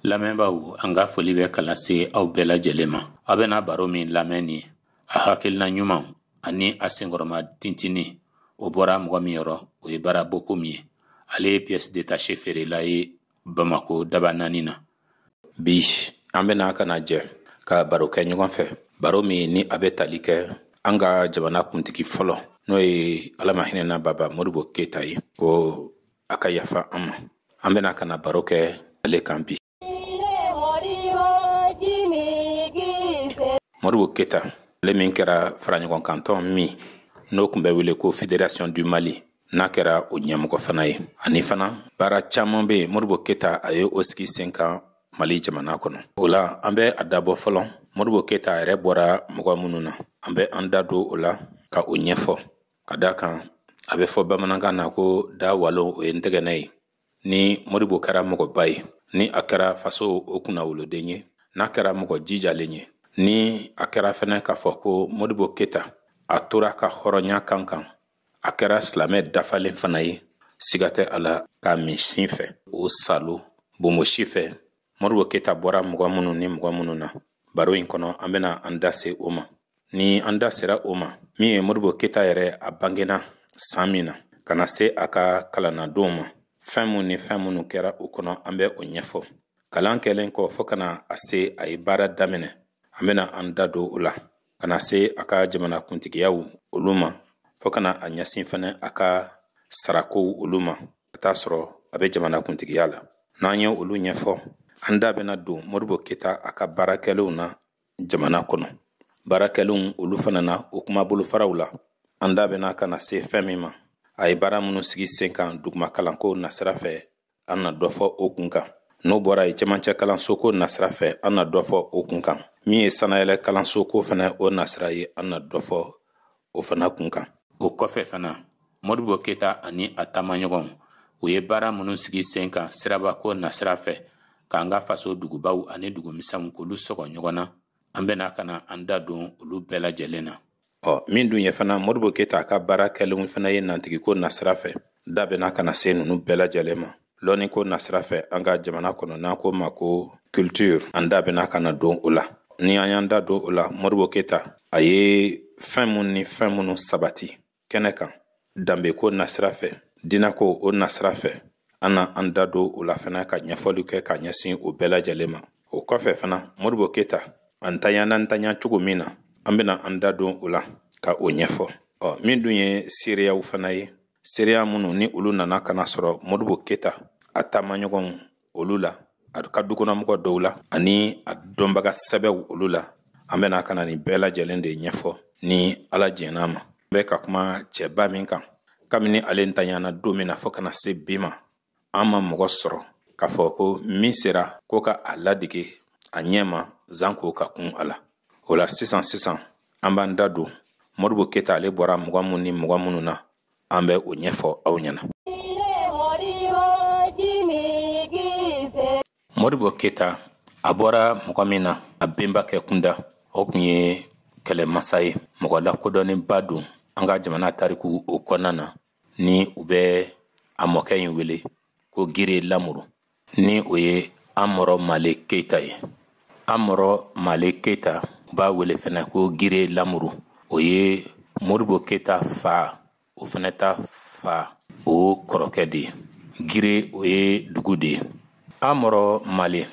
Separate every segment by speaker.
Speaker 1: lamɛnbaaw an ka foli bɛ ka lase aw bɛɛ lajɛlen ma aw bɛna baro min lamɛn ni a hakilina ɲumanw ani a senkɔrɔma tintini o bɔra mɔgɔ min yɔrɔ o ye bara bokumu ye ale ye pièce détachée feerela ye bamako dabanani na bi an bɛna ka na jɛ ka baro kɛ ɲɔgɔn fɛ baro min ni a bɛ tali kɛ an ka jamana kuntigi fɔlɔ n'o ye ala ma hinɛna baba modibo keyita ye ko a ka yafa an ma an bɛna ka na baro kɛ ale kan bi modibo keyita ale min kɛra faraɲɔgɔnkantɔn min n'o kun bɛ wele ko federation du mali n'a kɛra o ɲɛmɔgɔ fana ye ani fana baara caaman bɛ yen modibo keyita a ye o sigi sen kan mali jamana kɔnɔ o la an bɛ a dabɔ fɔlɔ modibo keyita yɛrɛ bɔra mɔgɔ minnu na an bɛ an da don o la ka o ɲɛfɔ ka da kan a bɛ fɔ bamanankan na ko da walo o ye ntɛgɛnɛ ye ni modibo kɛra mɔgɔba ye ni a kɛra faso o kunnawoloden ye n'a kɛra mɔgɔ jijalen ye ni a kɛra fɛnɛ k'a fɔ ko modibo keyita a tora a ka hɔrɔnya kan kan a kɛra silamɛ dafalen fana ye siga tɛ a la k'a min sin fɛ o saalo bonbonsi fɛ modibo keyita bɔra mɔgɔ minnu ni mɔgɔ minnu na baro in kɔnɔ an bɛna an da se o ma ni an da sera o ma min ye modibo keyita yɛrɛ a bangena saan min na ka na se a ka kalannadonw ma fɛɛn minw ni fɛɛn minnu kɛra o kɔnɔ an bɛ o ɲɛfɔ kalan kɛlen kɔ fɔɔ ka na se a ye baara daminɛ an bɛna an da don o la ka na se a ka jamana kuntigiyaw olu ma fo ka na a ɲɛsin fɛnɛ a ka sarakow olu ma ka t'a sɔrɔ a bɛ jamana kuntigiya la n'an ye olu ɲɛfɔ an da bɛna don modibo keyita a ka baarakɛlenw na jamana kɔnɔ baarakɛlenw olu fana na o kuma bolofaraw la an da bɛna ka na se fɛn min ma a ye baara minnu sigi sen kan duguma kalanko nasira fɛ an na dɔ fɔ o kun kan n'o bɔra yen cɛmancɛ kalansoko nasira fɛ an na dɔ fɔ o kun kan min ye sanayɛlɛ kalansoko fana o nasira ye an na dɔ fɔ o fana kun kan o kɔfɛ fana modibo keyita ani a taamaɲɔgɔnw u ye baara minnu sigi sen kan sirabako nasira fɛ k'an ka faso dugubaw ani dugumisɛnw k'olu sɔgɔ ɲɔgɔn na an bɛna ka na an da don olu bɛɛ lajɛlen na ɔ min dun ye fana modibo keyita a ka baara kɛlenw fana ye nantigiko nasira fɛ da bɛna ka na se ninnu bɛɛ lajɛlen ma lɔnniko nasira fɛ an ka jamana kɔnɔ n'an k'o ma ko culture an da bɛna ka na don o la ni an y'an da don o la modibo keyita a ye fɛn minnu ni fɛn minnu sabati kɛnɛ kan danbeko nasira fɛ diinako o nasira fɛ an na an da don o la fana ka ɲɛfɔli kɛ ka ɲɛsin o bɛɛ lajɛlen ma o kɔfɛ fana modibo keyita a ntanyana ntanya cogo min na an bɛna an da don o la ka o ɲɛfɔ ɔ min dun ye seereyaw fana ye seereya minnu ni olu nana ka na sɔrɔ modibo keyita a taamaɲɔgɔnw olu la a ka dukɔnɔmɔgɔ dɔw la ani a dɔnbaga sɛbɛw olu la an bɛna ka na nin bɛɛ lajɛlen de ɲɛfɔ ni ala jɛn'a ma an bɛ ka kuma cɛba min kan kabini ale ntanyana don min na fɔɔ ka na se bi ma an ma mɔgɔ sɔrɔ k'a fɔ ko min sera ko ka a ladege a ɲɛ ma zanko ka kun a la o la sisan sisan an b'an da don modibo keyita ale bɔra mɔgɔ minnu ni mɔgɔ minnu na an bɛ o ɲɛfɔ aw ɲɛna modibo keyita a bɔra mɔgɔ min na a benbakɛ kunda o kun ye kɛlɛmasa ye mɔgɔ lakodɔnnenba don an ka jamana tariku o kɔnɔna na ni u bɛ a mɔkɛ in wele ko gire lamuru ni o ye amɔrɔ male keyita ye amɔrɔ male keyita u b'a wele fɛnɛ ko gire lamuru o ye modibo keyita fa o fɛnɛ ta fa o kɔrɔkɛ de ye gire o ye dugu de ye amɔrɔ male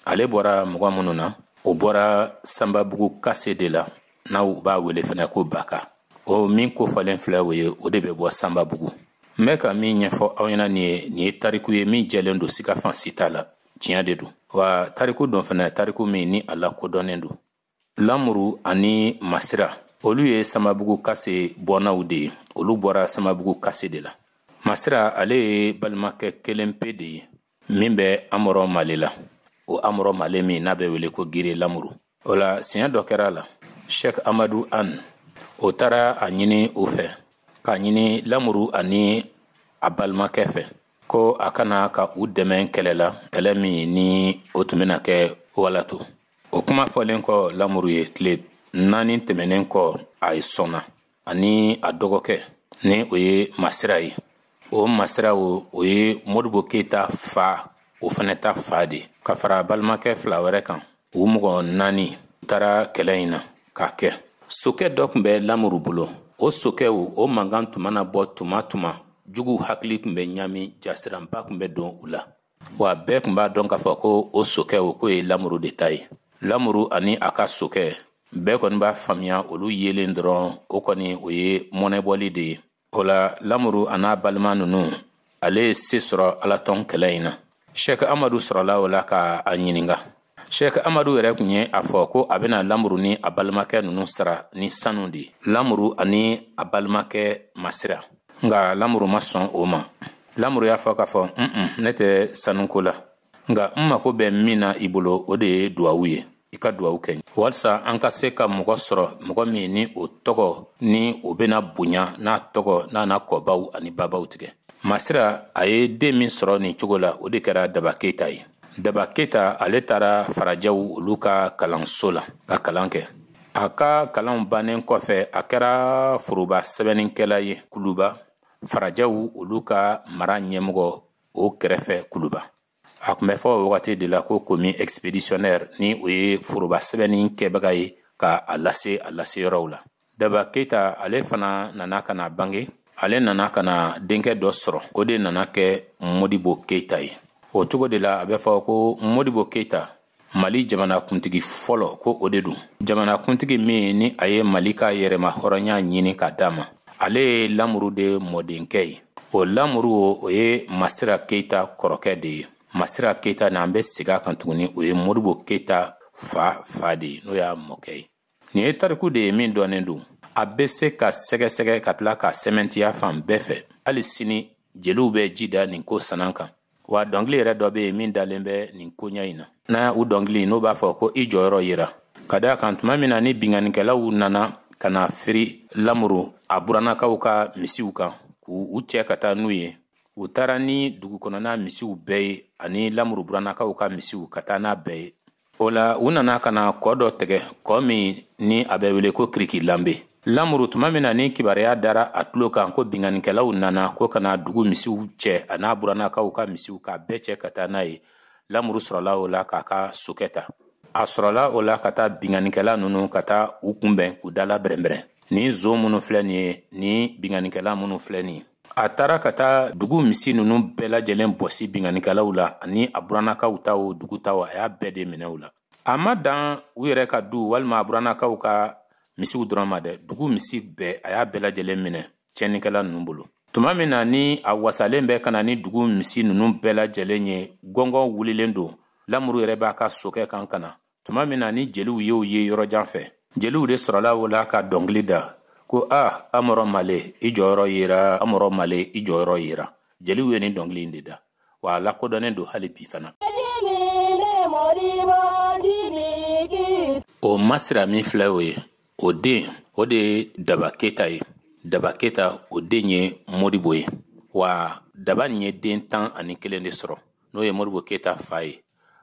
Speaker 1: ale bɔra mɔgɔ minnu na o bɔra sanbabugu kase de la n'u b'a wele fɛnɛ ko baka o min kofɔlen filɛ o ye o de bɛ bɔ sanbabugu n bɛ ka min ɲɛfɔ aw ɲɛna nin ye nin ye tariku ye min jɛlen don siga fan si t'a la tiɲɛ de don wa tariku don fɛnɛ tariku min ni a lakodɔnnen don lamuru ani masira olu ye sanbabugu kase bɔnaw de ye olu bɔra sanbabugu kase de la masira ale ye balimakɛ kelen pe de ye min bɛ amɔrɔ male la o amɔrɔ male min n'a bɛ wele ko gire lamuru o la siɲɛ dɔ kɛra a la shek amadu an o taara a ɲini u fɛ k'a ɲini lamuru ani a balimakɛ fɛ ko a ka na ka u dɛmɛ kɛlɛ la kɛlɛ min ni o tun bɛna kɛ walato o kuma fɔlen kɔ lamuru ye tile naani tɛmɛnen kɔ a ye sɔnna ani a dɔgɔkɛ ni o ye masira ye o masira o o ye modibo keyita fa o fɛnɛ ta fa de ka fara balimakɛ fila wɛrɛ kan u mɔgɔ naani taara kɛlɛ in na k'a kɛ sokɛ dɔ tun bɛ lamuru bolo o sokɛ o mankan tun mana bɔ tuma tuma juguw hakili tun bɛ ɲami jasiranba tun bɛ don u la wa bɛɛ tun b'a dɔn k'a fɔ ko o sokɛ o k'o ye lamuru de ta ye lamuru ani a ka sokɛ bɛɛ kɔni b'a faamuya olu yelen dɔrɔn o kɔni o ye mɔnɛbɔli de ye o la lamuru an'a balima ninnu ale ye se sɔrɔ alatɔn kɛlɛ in na shek amadu sɔrɔla o la ka a ɲininga Sheikh Amadu yɛrɛ tun ye a fɔ ko a bɛna lamuru ni a balimakɛ ninnu sara ni sanu de ye lamuru ani a balimakɛ masira nka lamuru ma sɔn o ma lamuru y'a fɔ k'a fɔ un-un ne tɛ sanuko la nka n mako bɛ min na i bolo o de ye duwawu ye i ka duwawu kɛ walisa an ka se ka mɔgɔ sɔrɔ mɔgɔ min ni o tɔgɔ ni o bɛna bonya n'a tɔgɔ n'a na kɔbaw ani babaw tigɛ masira a ye den min sɔrɔ nin cogo la o de kɛra daba keyita ye daba keyita ale taara farajɛw olu ka kalanso la ka kalan kɛ a ka kalanw bannen kɔfɛ a kɛra foroba sɛbɛnnikɛla ye kuluba farajɛw olu ka mara ɲɛmɔgɔ o kɛrɛfɛ kuluba a tun bɛ fɔ o wagati de la ko commis expéditionnaire ni o ye foroba sɛbɛnni kɛbaga ye ka a lase a lase yɔrɔw la daba keyita ale fana nana ka na bange ale nana ka na denkɛ dɔ sɔrɔ o de nana kɛ modibo keyita ye o cogo de la a bɛ fɔ ko modibo keyita mali jamanakuntigi fɔlɔ ko o de don jamanakuntigi min ni a ye mali ka yɛrɛma hɔrɔnya ɲini ka d'a ma ale ye lamuru de mɔdenkɛ ye o lamuru o ye masira keyita kɔrɔkɛ de ye masira keyita n'an bɛ segin a kan tuguni o ye modibo keyita fa fa de ye n'o y'a mɔkɛ ye nin ye tariku de ye min dɔnnen don a bɛ se ka sɛgɛsɛgɛ ka tila ka sɛmɛntiya fan bɛɛ fɛ hali sini jeliw bɛ ji da nin ko sanan kan wa dɔnkili yɛrɛ dɔ bɛ yen min dalen bɛ nin koɲɛ in na n'a u dɔnkili n'o b'a fɔ ko i jɔyɔrɔ yera ka d'a kan tuma min na ni binkannikɛlaw nana ka na firi lamuru a burannakaw ka misiw kan k'u cɛ ka taa n'u ye u taara ni dugukɔnɔna misiw bɛɛ ye ani lamuru burannakaw ka misiw ka taa n'a bɛɛ ye o la u nana ka na kɔ dɔ tɛgɛ kɔ min ni a bɛ wele ko kiriki lanbe lamuru tuma min na ni kibaruya dara a tulo kan ko binganikɛlaw nana ko ka na dugu misiw cɛ an'a burannakaw ka misiw k'a bɛɛ cɛ ka taa n'a ye lamuru sɔrɔla o la k'a ka sokɛ ta a sɔrɔla o la ka taa binganikɛla nunu ka taa u kunbɛn k'u dala bɛrɛnbɛrɛn ni zon minnu filɛ nin ye ni binganikɛla minnu filɛ nin ye a taara ka taa dugu misi nunu bɛɛ lajɛlen bɔsi binganikɛlaw la ani a burannakaw ta o dugu ta o a y'a bɛɛ de minɛ u la a ma dan u yɛrɛ ka du walima a burannakaw ka misiw dɔrɔn ma dɛ dugu misi bɛɛ a y'a bɛɛ lajɛlen minɛ tiɲɛnikɛla nunu bolo tuma min na ni a wasalen bɛ ka na ni dugu misi nunu bɛɛ lajɛlen ye gɔngɔn wulilen don lamuru yɛrɛ b'a ka sokɛ kan ka na tuma min na ni jeliw y'o ye yɔrɔ jan fɛ jeliw de sɔrɔla o la ka dɔnkili da ko a amɔrɔ male i jɔyɔrɔ yera amɔrɔ male i jɔyɔrɔ yera jeliw ye nin dɔnkili in de da wa a lakodɔnnen don hali bi fana o masira min filɛ o ye o den o de ye daba keyita ye daba keyita o den ye modibo ye wa daba nin ye den tan ani kelen de sɔrɔ n'o ye modibo keyita fa ye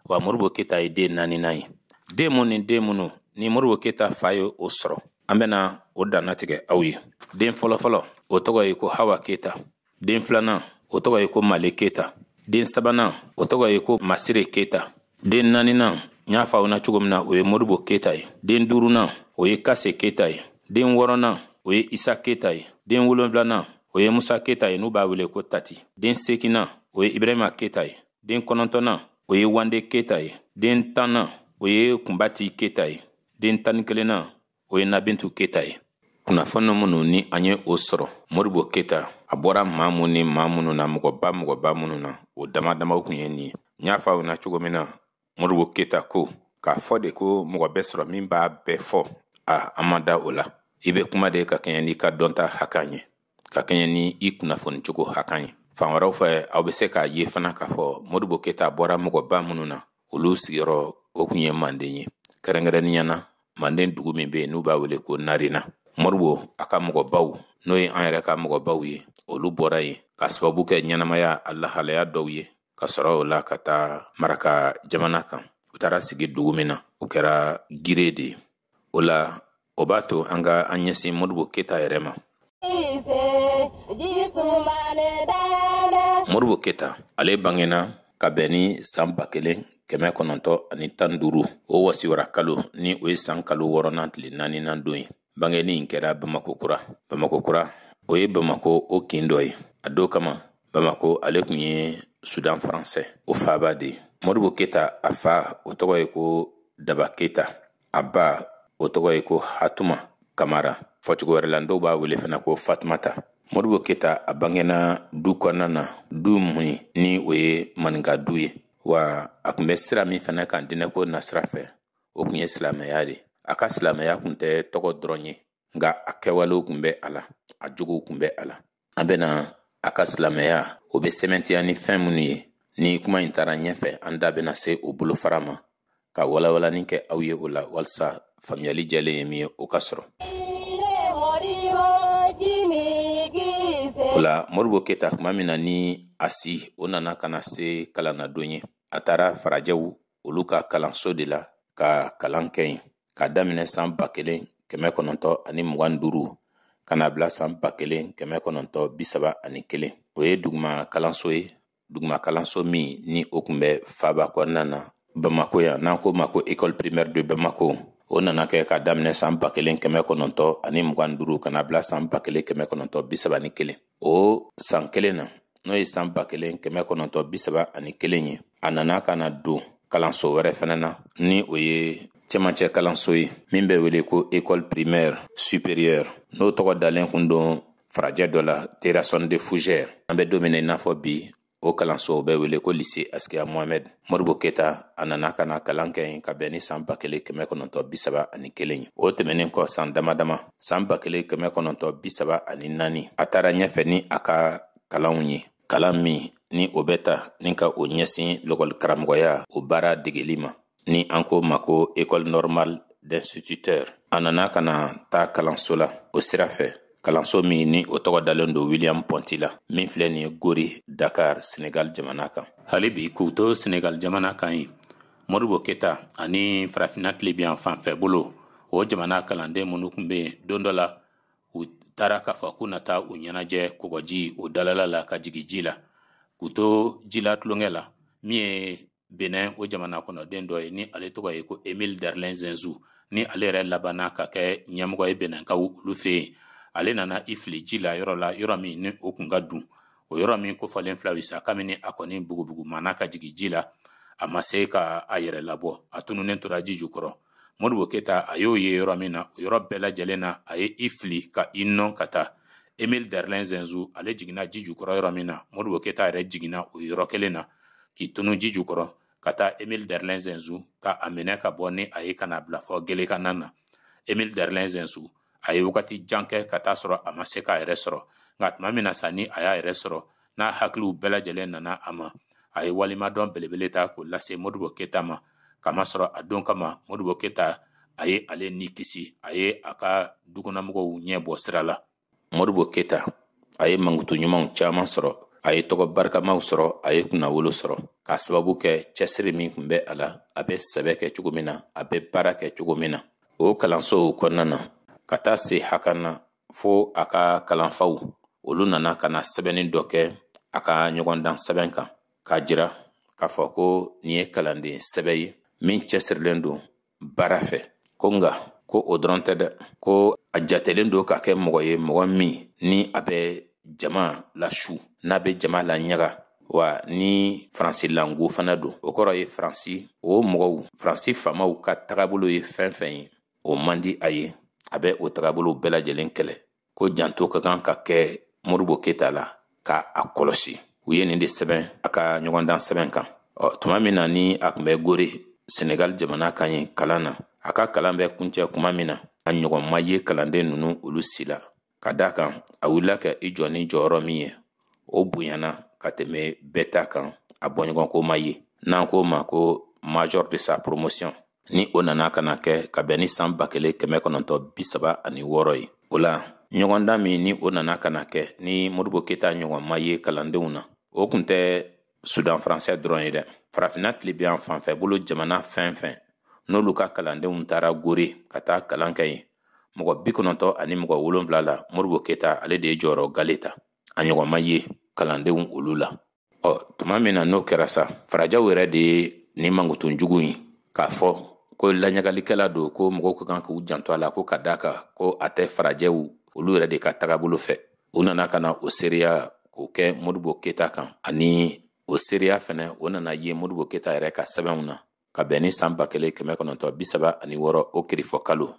Speaker 1: wa modibo keyita ye den naaninan ye den mun ni den minnu ni modibo keyita fa ye o sɔrɔ an bɛna o dannatigɛ aw ye den fɔlɔfɔlɔ o tɔgɔ ye ko hawa keyita den filanan o tɔgɔ ye ko male keyita den sabanan o tɔgɔ ye ko masire keyita den naaninan n y'a fɔ aw na cogo min na o ye modibo keyita ye den duurunan o ye kase keyita ye den wɔɔrɔnan o ye isa keyita ye den wolonfilanan o ye musa keyita ye n'u b'a wele ko tati den seekinan o ye ibrahima keyita ye den kɔnɔntɔnnan o ye wande keyita ye den tannan o ye kunbati keyita ye den tan ni kelennan o ye nabintu keyita ye kunnafoni minnu ni an ye o sɔrɔ modibo keyita a bɔra maa minnu ni maa minnu na mɔgɔba mɔgɔba minnu na o damadamaw kun ye nin ye n y'a fɔ aw na cogo min na modibo keyita ko k'a fɔ de ko mɔgɔ bɛ sɔrɔ min b'a bɛɛ fɔ a an ma da o la i bɛ kuma de ka kɛɲɛ n'i ka dɔnta hakan ye ka kɛɲɛ ni i kunnafoni cogo hakan ye fan wɛrɛw fɛ aw bɛ se k'a ye fana k'a fɔ modibo keyita bɔra mɔgɔba minnu na olu sigiyɔrɔ o kun ye manden ye kɛrɛnkɛrɛnnenya na manden dugu min bɛ yen n'u b'a wele ko narena modibo a ka mɔgɔbaw n'o ye an yɛrɛ ka mɔgɔbaw ye olu bɔra yen ka sababu kɛ ɲɛnamaya a lahalaya dɔw ye ka sɔrɔ o la ka taa maraka jamana kan u taara sigi dugu min na o kɛra gire de ye o la o b'a to an ka an ɲɛsin modibo keyita yɛrɛ ma modibo keyita ale bangena ka bɛn ni san ba kelen kɛmɛ kɔnɔntɔ ani tan duuru o wasiwara kalo ni o ye san kalo wɔɔrɔnan tile naaninan don ye bangeni in kɛra bamakɔ kura bamakɔ kura o ye bamakɔ o kin dɔ ye a don kama bamakɔ ale kun ye sudan faransɛ o faaba de ye modibo keyita a fa o tɔgɔ ye ko daba keyita a ba o tɔgɔ ye ko hatuma kamara fɔcogo wɛrɛ la dɔw b'a wele fana ko fatumata modibo keyita a bangena du kɔnɔna na du mun ni o ye maninka du ye wa a kun bɛ sira min fana kan dinɛko nasira fɛ o kun ye silamɛya de a ka silamɛya kun tɛ tɔgɔ dɔrɔn ye nka a kɛwalew kun bɛ a la a jogow kun bɛ a la an bɛna a ka silamɛya o bɛ sɛmɛntiya ni fɛn minnu ye ni kuma in taara ɲɛfɛ an da bɛna se o bolofara ma ka walawalani kɛ aw ye o la walisa faamuyali jɛlen ye min ye o ka sɔrɔ o la modibo keyita kuma min na ni a si o nana ka na se kalanadon ye a taara farajɛw olu ka kalanso de la ka kalan kɛ yen k'a daminɛ san ba kelen kɛmɛ kɔnɔntɔ ani mugan ni duuru ka n'a bila san ba kelen kɛmɛ kɔnɔntɔ bi saba ani kelen o ye duguma kalanso ye duguma kalanso min ni o kun bɛ faaba kɔnɔna na bamako yan n'an k'o ma ko école primaire de bamako o nana kɛ k'a daminɛ san ba kelen kɛmɛ kɔnɔntɔ ani mugan duuru ka n'a bila san ba kelen kɛmɛ kɔnɔntɔ bi saba ni kelen o san kelen na n'o ye san ba kelen kɛmɛ kɔnɔntɔn bi saba ani kelen ye a nana ka na don kalanso wɛrɛ fɛnɛ na ni o ye cɛmancɛ kalanso ye min bɛ wele ko école primaire supérieure n'o tɔgɔ dalen kun don farajɛ dɔ la terrasson de fougère an bɛ don min na i n'a fɔ bi o kalanso bɛ wele ko lise askiya mohamɛd modibo keta a nana ka na kalan kɛ yen ka bɛn ni saan ba kelen kɛmɛ kɔnɔntɔ bisaba ani kelen ye o tɛmɛnin kɔ saan dama dama saan ba kelen kɛmɛ kɔnɔntɔ bisaba ani naani a taara ɲɛfɛ ni a ka kalanw ye kalan min ni o bɛ ta ni ka o ɲɛsin lakɔli karamɔgɔya o baara degeli ma ni an ko ma ko école normale d'instituteur a nana ka na taa kalanso la o sira fɛ kalanso min ni o tɔgɔ dalen don william ponty la min filɛ nin ye gori dakar senegal jamana kan hali bi k'u to senegal jamana kan yen modibo keta ani farafina tilebinyanfan fɛ bolo o jamana kalanden minnu kun be don dɔ la u taara k'a fɔ k'u na taa u ɲɛnajɛ kɔgɔji o dalala la ka jigi ji la k'u to ji la tulonkɛ la min ye benin o jamana kɔnɔ den dɔ ye ni ale tɔgɔ ye ko emile derlin zinsou ni ale yɛrɛ labanna ka kɛ ɲɛmɔgɔ ye beninkaw olu fɛ yen ale nana i fili ji la yɔrɔ la yɔrɔ min ni o kun ka dun o yɔrɔ min kofɔlen filɛ aw ye sa kabini a kɔni bugubugu mana ka jigin ji la a ma se ka a yɛrɛ labɔ a tununnen tora ji jukɔrɔ modibo keta a y'o ye yɔrɔ min na o yɔrɔ bɛɛ lajɛlen na a ye i fili ka i nɔn ka taa emil derlin zinsou ale jiginna ji jukɔrɔ yɔrɔ min na modibo keta yɛrɛ jiginna o yɔrɔ kelen na k'i tunu ji jukɔrɔ ka taa emil derlin zinsou ka a minɛ ka bɔ ni a ye ka n'a bila fɔ gelekanna na emil derlin zinsou a ye wagati jan kɛ ka t'a sɔrɔ a ma se k'a yɛrɛ sɔrɔ nka tuma min na sa ni a y'a yɛrɛ sɔrɔ n'a hakiliw bɛɛ lajɛlen nana a ma a ye waleɲumandɔn belebele ta k'o lase modibo keta ma kamasɔrɔ a don kama modibo keta a ye ale ni kisi a ye a ka dukɔnɔmɔgɔw ɲɛ bɔ sira la modibo keta a ye mankutu ɲumanw caman sɔrɔ a ye tɔgɔ barikamaw sɔrɔ a ye kunnawolo sɔrɔ k'a sababu kɛ cɛsiri min kun bɛ a la a bɛ sɛbɛ kɛ cogo min na a bɛ baara kɛ cogo min na o kalansow kɔnɔna na ka taa se hakan na fo a ka kalanfaw olu nana ka na sɛbɛnni dɔ kɛ a ka ɲɔgɔndan sɛbɛn kan k'a jira k'a fɔ ko nin ye kalanden sɛbɛ ye min cɛsirilen don baara fɛ ko nka ko o dɔrɔn tɛ dɛ ko a jatelen don ka kɛ mɔgɔ ye mɔgɔ min ni a bɛ jama lasu n'a bɛ jama laɲaga wa ni faransi lango fana don o kɔrɔ ye faransi o mɔgɔw faransi faamaw ka tagabolo ye fɛn o fɛn ye o man di a ye a bɛ o tagabolo bɛɛ lajɛlen kɛlɛ ko janto ka kan ka kɛ modibo keta la ka a kɔlɔsi u ye nin de sɛbɛn a ka ɲɔgɔndan sɛbɛn kan ɔ tuma min na ni a kun bɛ gore senegal jamana kan yen kalan na a ka kalan bɛ kuncɛ kuma min na a ɲɔgɔn ma ye kalanden ninnu olu si la ka d'a kan a wulila ka i jɔ ni jɔyɔrɔ min ye o bonyana ka tɛmɛ bɛɛ ta kan a bɔɲɔgɔnko ma ye n'an k'o ma ko major de sa promotion ni o nana ka na kɛ ka bɛn ni san ba kelen kɛmɛ kɔnɔntɔ bi saba ani wɔɔrɔ ye o la ɲɔgɔndan min ni o nana ka na kɛ ni modibo keta ɲɔgɔn ma ye kalandenw na o kun tɛ sudan faransɛ dɔrɔn ye dɛ farafinna tilebi yan fanfɛ bolo jamana fɛn fɛn n'olu ka kalandenw taara gore ka taa kalan kɛ yen mɔgɔ bi kɔnɔntɔ ani mɔgɔ wolonfila la modibo keta ale de ye jɔyɔrɔ gale ta a ɲɔgɔn ma ye kalandenw olu la ɔ tuma min na n'o kɛra sa farajɛw yɛrɛ de ye ni mankutu jugu in k'a fɔ ko laɲagalikɛla don ko mɔgɔw ka kan k'u janto a la ko ka d'a kan ko a tɛ farajɛw olu yɛrɛ de ka tagabolo fɛ u nana ka na o seereya k'o kɛ modibo keta kan ani o seereya fɛnɛ o nana ye modibo keta yɛrɛ ka sɛbɛnw na ka bɛn ni saan ba kelen kɛmɛ kɔnɔntɔ bisaba ani wɔɔrɔ o kirifɔ kalo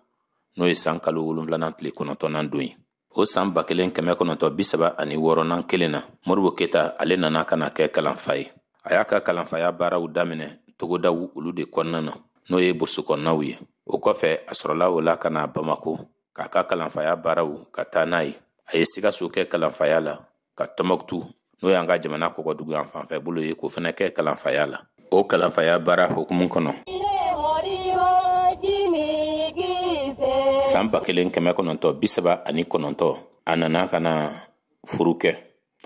Speaker 1: n'o ye saan kalo wolonfilanan tile kɔnɔntɔnan don ye o saan ba kelen kɛmɛ kɔnɔntɔ bisaba ani wɔɔrɔnan kelen na modibo keta ale nana ka na kɛ kalanfa ye a y'a ka kalanfaya baaraw daminɛ togodaw olu de kɔnɔna na n'o ye burusu kɔnɔnaw ye o kɔfɛ a sɔrɔla o la ka na bamako k'a ka kalanfaya baaraw ka taa n'a ye a ye sikaso kɛ kalanfaya la ka tɔnbɔkutu n'o y'an ka jamana kɔgɔdugu yan fanfɛ bolo ye k'o fɛnɛ kɛ kalanfaya la o kalanfaya baara hukumu kɔnɔ san ba kelen kɛmɛ kɔnɔntɔ bisaba ani kɔnɔntɔ a nana ka na furu kɛ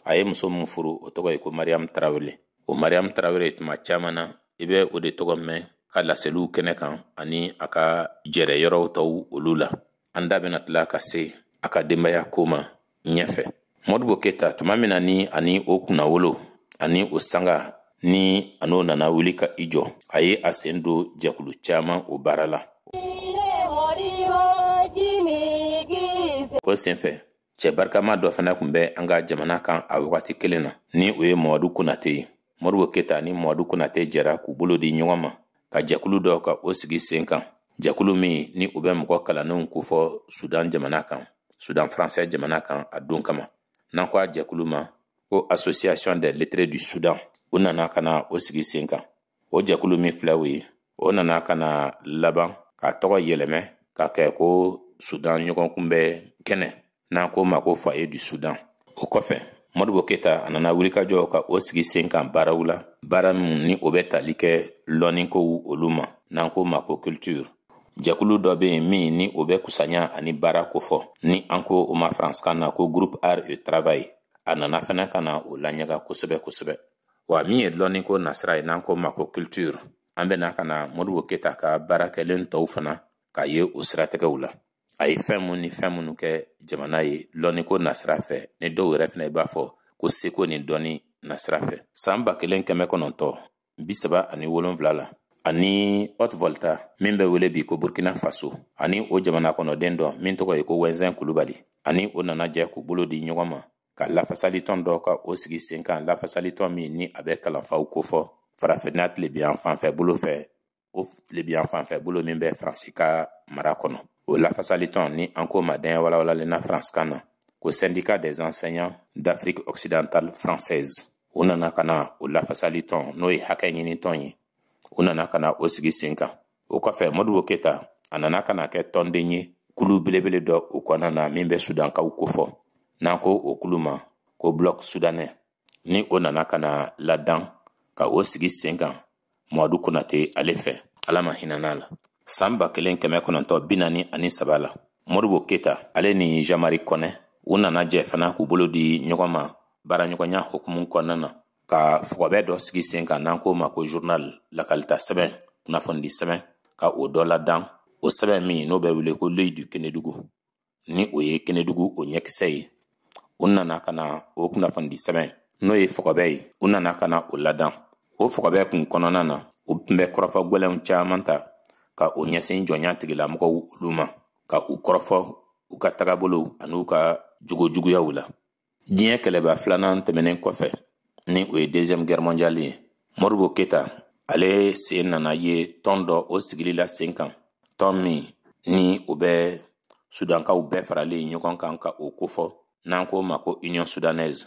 Speaker 1: a ye muso min furu o tɔgɔ ye ko mariyamu tarawele o mariyamu tarawele tuma caman na i bɛ o de tɔgɔ mɛn ka laseliw kɛnɛ kan ani a ka jɛrɛ yɔrɔw tɔw olu la an da bɛna tila ka se a ka denbaya ko ma ɲɛfɛ modibo keta tuma min na ni ani o kunnawolo ani o sanga ni an'o nana wuli ka i jɔ a ye a sen don jɛkulu caman o baara la o senfɛ cɛ barikama dɔ fana kun bɛ an ka jamana kan a wagati kelen na ni o ye mamadu konate ye modibo keta ni mamadu konate jɛra k'u bolo di ɲɔgɔn ma ka jɛkulu dɔ ka o sigi sen kan jɛkulu min ni u bɛ mɔgɔ kalannenw kofɔ sudan jamana kan sudan faransɛ jamana kan a don kama n'an ko a jɛkulu ma ko association des lettrés du sudan u nana ka na o sigi sen kan o jɛkulu min filɛ o ye o nana ka na laban k'a tɔgɔ yɛlɛmɛ ka kɛ ko sudan ɲɔgɔn kunbɛ kɛnɛ n'an k'o ma ko foyer du sudan o kɔfɛ modibo keta a nana wulikajɔ ka o sigi sen kan baaraw la baara min ni o bɛ tali kɛ lɔnnikow olu ma n'an k'o ma ko culture jɛkulu dɔ bɛ yen min ni o bɛ kusanya ani baara kofɔ ni an ko o ma faransikan na ko groupe art et travail a nana fɛnɛ ka na o laɲaga kosɛbɛ kosɛbɛ wa min ye lɔnni ko nasira ye n'an k'o ma ko culture an bɛna ka na modibo keyita ka baara kɛlen tɔw fana k'a ye o siratigɛw la a ye fɛn min ni fɛn minnu kɛ jamana ye lɔnni ko nasira fɛ ni dɔw yɛrɛ fana i b'a fɔ ko seko ni dɔnni nasira fɛ san ba kelen kɛmɛ kɔnɔntɔn bi saba ani wolonfila la ani haute volta min bɛ wele bi ko burkina faso ani o jamana kɔnɔden dɔ min tɔgɔ ye ko wɛnzɛn kulubali ani o nana jɛ k'u bolo di ɲɔgɔn ma ka lafasalitɔn dɔ ka o sigi sen kan lafasalitɔn min ni a bɛ kalanfaw kofɔ farafinna tilebiyan fanfɛ bolo fɛ o tilebiyan fanfɛ bolo min bɛ faransi ka mara kɔnɔ o lafasalitɔn ni an k'o ma daɲɛ walawalalen na faransikan na ko syndicat des enseignants d'afrique occidentale française u nana ka na o lafasalitɔn n'o ye hakɛ ɲinitɔn ye u nana ka na o sigi sen kan o kɔfɛ modibo keyita a nana ka na kɛ tɔnden ye kulu belebele dɔ o kɔnɔna na min bɛ sudankaw kofɔ n'an ko o kulu ma ko bloc soudanais ni o nana ka na ladan ka o sigi sen kan mamadu konate ale fɛ ala ma hinɛn'a la san ba kelen kɛmɛ kɔnɔntɔn bi naani ani saba la modibo keyita ale ni jean-marie kɔnɛ u nana jɛ fana k'u bolo di ɲɔgɔn ma baaraɲɔgɔnya hukumu kɔnɔna na ka fɔgɔbɛ dɔ sigi sen kan n'an k'o ma ko journal lakalita sɛbɛn kunnafonidi sɛbɛn ka o dɔ ladan o sɛbɛn min n'o bɛ wele ko l'œil du kenedugu ni o ye kenedugu o ɲɛkisɛ ye u nana ka na o kunnafonidi sɛbɛn n'o ye fɔgɔbɛ ye u nana ka na o ladan o fɔgɔbɛ kun kɔnɔna na u tun bɛ kɔrɔfɔ gwɛlɛnw caman ta ka o ɲɛsin jɔnya tigilamɔgɔw olu ma ka u kɔrɔfɔ u ka tagabolow an'u ka jogojuguyaw la diɲɛ kɛlɛba filanan tɛmɛnen kɔfɛ ni o ye deuxième guerre mondiale ye modibo keyita ale sen nana ye tɔn dɔ o sigili la sen kan tɔn min ni o bɛ sudankaw bɛɛ faralen ɲɔgɔn kan ka o kofɔ n'an k'o ma ko union soudanaise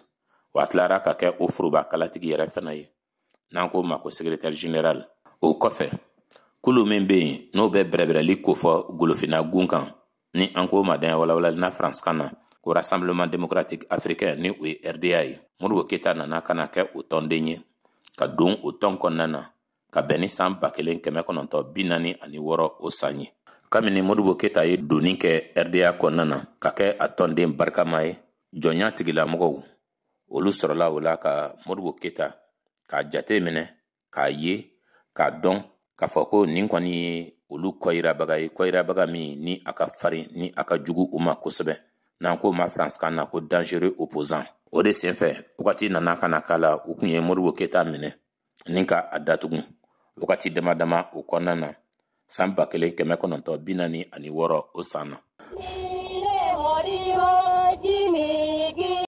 Speaker 1: wa a tilara ka kɛ o foroba kalatigi yɛrɛ fana ye n'an k'o ma ko secrétaire général o kɔfɛ kulu min bɛ yen n'o bɛ bɛrɛbɛrɛli kofɔ golofinna gun kan ni an k'o ma daɲɛ walawalalen na faransikan na ko rassemblement démocratique africain ni o ye rda ye modibo keyita nana ka na kɛ o tɔnden ye ka don o tɔn kɔnɔna na ka bɛn ni san ba kelen kɛmɛ kɔnɔntɔn bi naani ani wɔɔrɔ o san ye kabini modibo keyita ye donni kɛ rda kɔnɔna na ka kɛ a tɔnden barikama ye jɔnya tigilamɔgɔw olu sɔrɔla o la ka modibo keyita k'a jate minɛ k'a ye k'a dɔn k'a fɔ ko nin kɔni ye olu kɔyirabaga ye kɔyirabaga min ni a ka farin ni a ka jugu u ma kosɛbɛ n'an k'o ma faransikan na ko dangereux opposant o de senfɛ wagati nana ka na k'a la u kun ye modibo keyita minɛ ni ka a datugu wagati dama dama o kɔnɔna na san ba kelen kɛmɛ kɔnɔntɔn bi naani ani wɔɔrɔ o san na